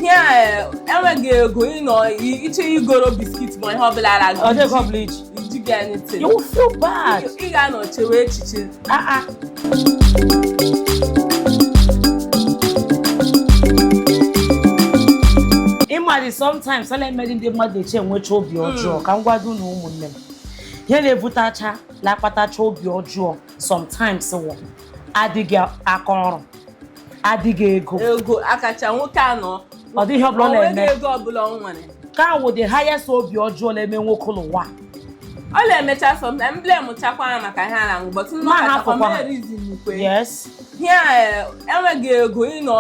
ya eh, enweghị ego ịnọ iche igoro biscuit ma ihe ọbụla ara gị ọjọọ ọ bụla iji ijighị anything you feel bad ị ga-anọ chewe echiche ah ah ị ma dị sometimes a la-emedị ndị mmadụ eji enwecha obi hmm. ọjọọ ka m gwado na ụmụnne m ihe na-ebutacha na-akpatacha obi ọjọọ sometimes wụ adịghị aka ọrụ adịghị ego ego akacha nwoke anọ ọ dịghị ihe ọbụla ọ na-eme ego ọbụla ọ nwere ka wụ the highest obi ọjọọ na-eme nwoke n'ụwa ọ na-emecha sometimes e blame chakwa ya maka ihe a na-aṅụ but nna ọkachakwa yes ihe eh, enweghị ego ịnọ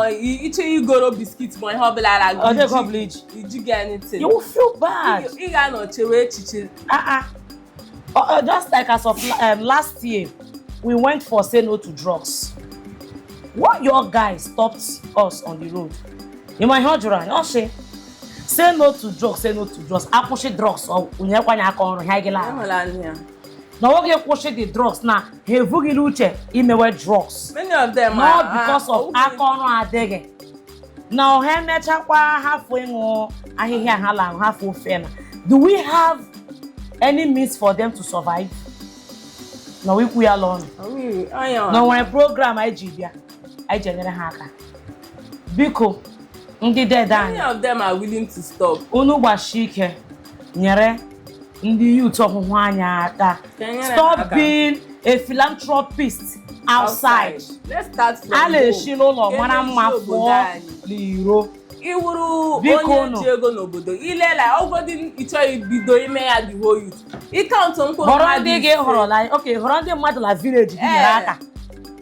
iche igoro biscuit ma ihe ọbụla ara gị ijighị anything you feel bad ị ga-anọ chewe echiche ah, ah. Uh, uh, just like as of um, last year, we went for say no to drugs. One young guy stopped us on the road. Ị ma ihe ọ jụrụ anyị, o shị. Say no to drugs, say no to drugs. Akwụsị drugs ọ nyekwanye aka ọrụ ha gị laa. Na nwoke kwụsị the drugs na ha ebughị la uche imewe drugs. Many of them are, not because of aka ọrụ adịghị. na ha mechakwa hafụ ịṅụ ahịhịa ha la hafụ ofe na do we have any means for them to survive na ikwu ya la ọnụ na o nwere program anyị ji bịa anyị ji enyere ha aka biko ndị dede anyị Many of them are willing to stop. unu gbashi ike nyere ndị youth Ọhụhụ anyị aka stop being a philanthropist outside a la-eshi n'ụlọ mara mma pụọ n'iro ị wụrụ onye ji ego n'obodo i lee la ọ wụgodị ị chọghị ibido ime ya the whole youth ị count mkpụrụ mmadụ họrọ ndị gị họrọ like okay họrọ ndị mmadụ la village gị nyere aka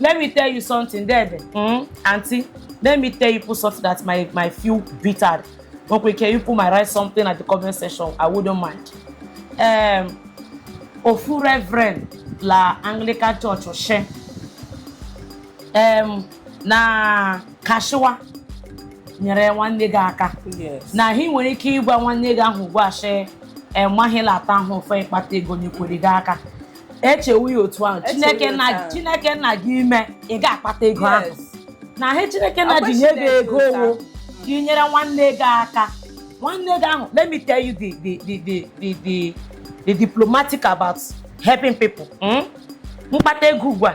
let me tell you something there there mm, aunty let me tell you people something that make me feel bitter okay can you people might write something at the comment section i wouldn't mind um, ofu reverend la anglican church o shị um, na ka a shịwa nyere nwanne gị aka na hi nwere ike ịgwa nwanne gị ahụ ugbu a shị enweghị la taa ahụ ofe ị kpata ego nyekwere gị aka echewu ya otu ahụ Echewu chineke ya nna otu ahụ. chineke nna gị ime ị ga-akpata ego ahụ Yes. na ihe chineke nna ji nye gị Agbachitere ego otu ọ wụ ahụ. ka ị nyere nwanne gị aka nwanne gị ahụ let me tell you the the the the the the, the diplomatic about helping people mm? m kpata ego ugbu a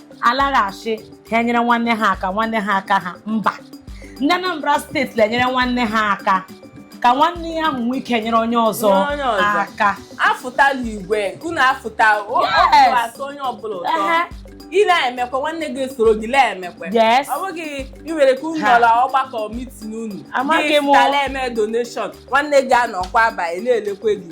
alaghachi ha enyere nwanne ha aka nwanne ha aka ha mba ndị Anambra steeti na-enyere nwanne ha aka ka nwanne ya ahụ nwee ike nyere onye ọzọ Onye ọzọ. aka afụtala igwe unu afụta o- Yes. obi atọ onye ọbụla ụtọ Ehe. ị na-emekwa nwanne gị esoro gị na-emekwa Yes. ọ bụghị i were ka unu Ha. nọrọ ọgbakọ mitin unu Amaghị m. gị na-eme donation nwanne gị anọkwa ebe ahụ na-elekwe gị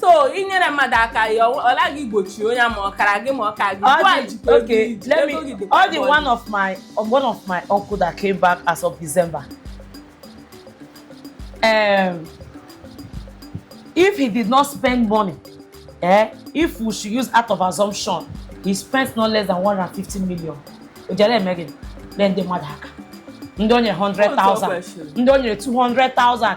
so inyere mmadụ aka ya ọ naghị igbochi onye ma ọ kara gị ma ọ kaghị ọ dị one of my one of my uncle that came back as of December um, if he did not spend money eh, if we should use out of assumption he spent no less than 150 million o jiri mee gịnị nye ndị mmadụ aka ndị o nyere 100,000 ndị o nyere 200,000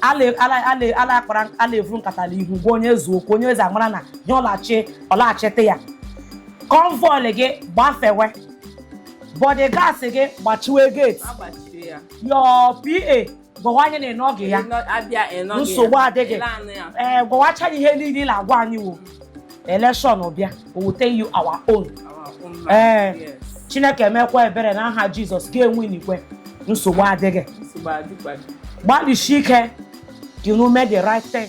a la-akpara a la-evuru nkata na ihu gwa onye eze okwu onye eze amara na ihe ọlachi ọ laghachite ya convoy gị gbafewe bodyguards gị gbachiwe gate your PA gwawa anyị na ị nọghị ya nsogbu adịghị ee gwawacha anyị ihe niile ị na-agwa anyị wo elekshọn bịa we will tell you our own ee eh, Chineke mekwaa ebere na aha Jizọs ga-enwe n'ikwe nsogbu adịghị gbalịsie ike ka unu mee the right thing